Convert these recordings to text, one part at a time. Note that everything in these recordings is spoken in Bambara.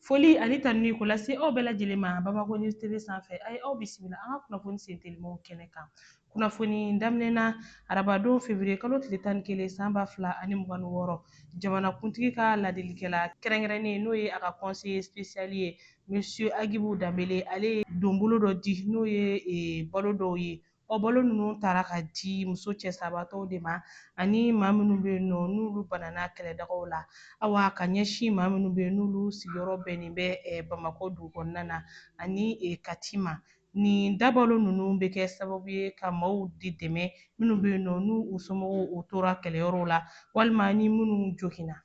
Foli ani tanuni ko lase aw bɛɛ lajɛlen ma Bamako News TV sanfɛ a ye aw bisimila an ka kunnafoni sen telimanw kɛnɛ kan. Kunnafoni daminɛ na arabadon février kalo tile tan ni kelen san ba fila ani mugan ni wɔɔrɔ, jamanakuntigi ka ladilikɛla kɛrɛnkɛrɛnnen n'o ye a ka conseiller spécial ye Monsieur Agibu Danbele ale ye donbolo dɔ di n'o ye balo dɔw ye O balo ninnu taara ka di muso cɛsabatɔw de ma ani maa minnu bɛ yen nɔ n'olu banana kɛlɛdagaw la awa ka ɲɛsin maa minnu bɛ yen n'olu sigiyɔrɔ bɛnnen bɛ eh, Bamakɔ dugu kɔnɔna na ani eh, Kati ma. Nin dabalo ninnu bɛ kɛ sababu ye ka maaw de dɛmɛ minnu bɛ yen nɔ n'u u somɔgɔw u tora kɛlɛyɔrɔw la walima ni minnu joginna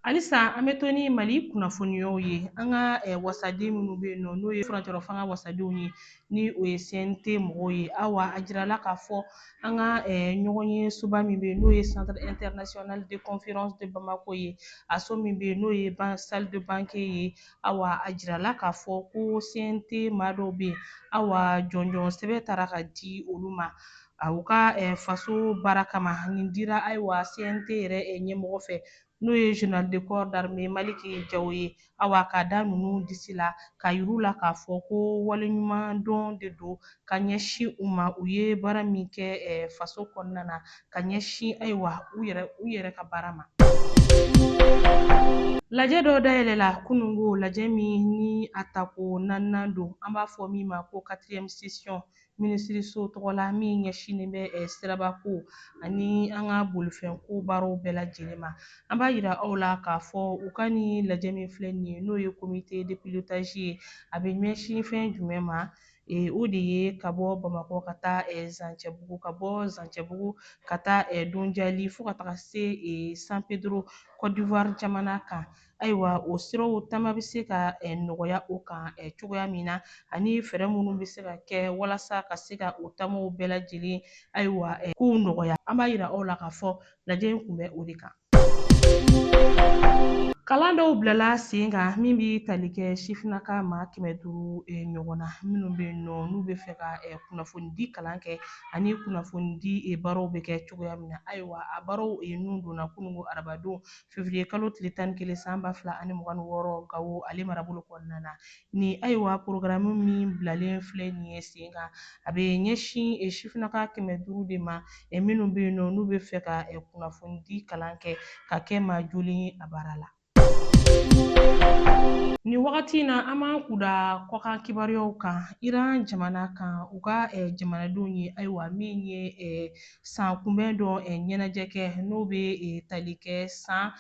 halisa an bɛ to ni mali kunnafoniyaw ye an ka eh, wasaden minnu bɛ yen nɔ n'o ye furancɛrɔ fanga wasadenw ye ni o ye cnt mɔgɔw ye awa a jirala k'a fɔ an ka eh, ɲɔgɔnye soba min bɛ yen n'o ye centre international de conférence de bamako ye a so min bɛ yen n'o ye ban salle de banquet ye awa a jirala k'a fɔ ko cnt maa dɔw bɛ yen awa jɔnjɔn sɛbɛn taara ka di olu ma a u ka eh, faso baara kama nin dira ayiwa cnt yɛrɛ eh, ɲɛmɔgɔ fɛ n'o ye général de corps d'armée maliki jaw ye awa k'a da ninnu disi la k'a yir'u la k'a fɔ ko waleɲuman dɔn de don ka ɲɛsin u ma u ye baara min kɛ eh, faso kɔnɔna na ka ɲɛsin ayiwa u yɛrɛ u yɛrɛ ka baara ma Lajɛ dɔ dayɛlɛla kunungo lajɛ min ni a tako naaninan don an b'a fɔ min ma ko quatrième session minisiriso tɔgɔ la min ɲɛsinnen bɛ eh, sirabako ani an ka bolifɛnko baaraw bɛɛ lajɛlen ma an b'a yira aw la k'a fɔ u ka nin lajɛ min filɛ nin ye n'o ye comité de pilotage ye a bɛ ɲɛsin fɛn jumɛn ma eh, o de ye ka bɔ bamakɔ ka taa eh, zancɛbugu ka bɔ zancɛbugu ka taa donjali fo ka taga se san pedro côte d'ivoire jamana kan Ayiwa o siraw taama bɛ se ka nɔgɔya o kan cogoya min na ani fɛɛrɛ minnu bɛ se ka kɛ walasa ka se ka o taamaw bɛɛ lajɛlen ayiwa kow nɔgɔya an b'a jira aw la k'a fɔ lajɛ in kun bɛ o de kan. Kalan dɔw bilala sen kan min bɛ tali kɛ sifinnaka maa kɛmɛ duuru ɲɔgɔn na minnu bɛ yen nɔ n'u bɛ fɛ ka kunnafonidi kalan kɛ ani kunnafonidi baaraw bɛ kɛ cogoya min na ayiwa a baaraw ninnu donna kunungo arabadon Février kalo tile tan ni kelen san ba fila ani mugan ni wɔɔrɔ Gawo ale marabolo kɔnɔna na. Nin ayiwa porogaramu min bilalen filɛ nin ye sen kan, a bɛ ɲɛsin sifinnaka kɛmɛ duuru de ma minnu bɛ yen nɔ n'u bɛ fɛ ka kunnafonidi kalan kɛ ka kɛ maa jolen ye a baara la. Nin wagati in na, an b'an kun da kɔkan kibaruyaw kan Iran jamana kan, u ka jamanadenw ye, ayiwa min ye san kunbɛn dɔ ɲɛnajɛ kɛ n'o bɛ tali kɛ san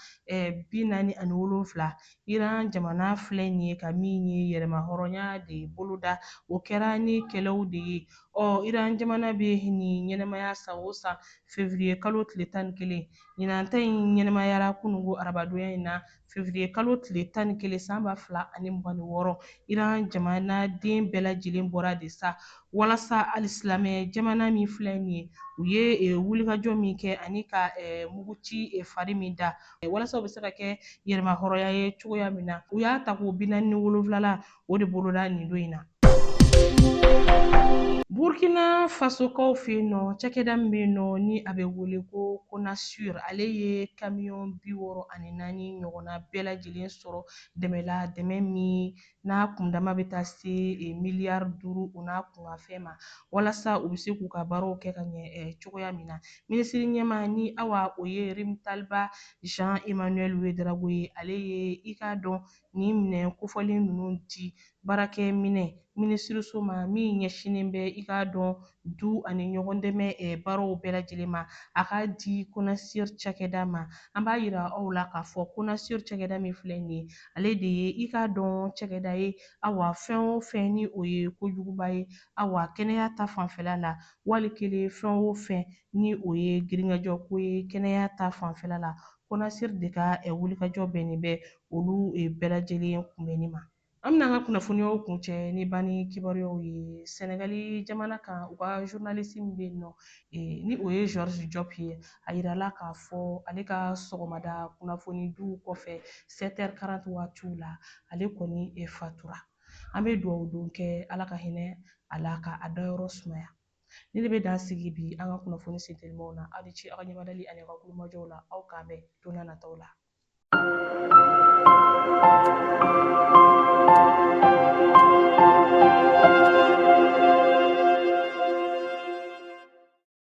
bi naani ani wolonwula Iran jamana filɛ nin ye ka min ye yɛrɛmahɔrɔnya de boloda o kɛra ni kɛlɛw de ye ɔ Iran jamana bɛ nin ɲɛnamaya san o san février kalo tile tan ni kelen ɲinan ta in ɲɛnamayara kunungo arabadonya in na Février kalo tile tan ni kelen san ba fila ani mugan ni wɔɔrɔ Iran jamanaden bɛɛ lajɛlen bɔra de sa walasa alisilamɛ jamana min filɛ nin ye u ye e, wulikajɔ min kɛ ani ka e, muguci e, fari min da e, walasa u bɛ se ka kɛ yɛrɛmahɔrɔnya ye cogoya min na u y'a tako bi naani ni wolonwulanan o de boloda nin don in na burkina fasokaw fɛ yen nɔ cakɛda min bɛ yen nɔ ni a bɛ wele ko Konasur ale ye kamiyɔn bi wɔɔrɔ ani naani ɲɔgɔnna bɛɛ lajɛlen sɔrɔ dɛmɛ la dɛmɛ min n'a kundama bɛ taa se e, miliyari duuru o n'a kunkanfɛn ma walasa u bɛ se k'u ka baaraw kɛ ka ɲɛ e, cogoya min na minisiri ɲɛmaa ni awa o ye Rimtalba Jean Emmanuel Ouédraogo ye ale ye i k'a dɔn nin minɛn kofɔlen ninnu di baarakɛminɛn minisiriso ma min ɲɛsinnen bɛ i k'a dɔn du ani ɲɔgɔndɛmɛ baaraw bɛɛ lajɛlen ma, a k'a di Konasur cakɛda ma. An b'a yira aw la k'a fɔ Konasur cakɛda min filɛ nin ye, ale de ye i k'a dɔn cakɛda ye, awa, fɛn o fɛn ni o ye kojuguba ye, awa, kɛnɛya ta fanfɛla la, wali kelen fɛn o fɛn ni o ye girinkajɔko ye kɛnɛya ta fanfɛla la, Konasur de ka wulikajɔ bɛnnen bɛ olu bɛɛ lajɛlen kunbɛnni ma. An bɛna an ka kunnafoniyaw kuncɛ ni banni kibaruyaw ye Sɛnɛgali jamana kan, u ka journaliste min bɛ yen nɔ, ni o ye Georges Diop ye, a yirala k'a fɔ ale ka sɔgɔmada kunnafonidiw kɔfɛ, sept heures quarante waatiw la, ale kɔni fatura. An bɛ duwawu don kɛ Ala ka hinɛ a la, ka a dayɔrɔ sumaya. nin de bɛ dan sigi bi an ka kunnafoni sentelimanw na aw ni ce aw ka ɲɛmadali ani aw ka tulomajɔw la aw k'an bɛn don n'a nataw la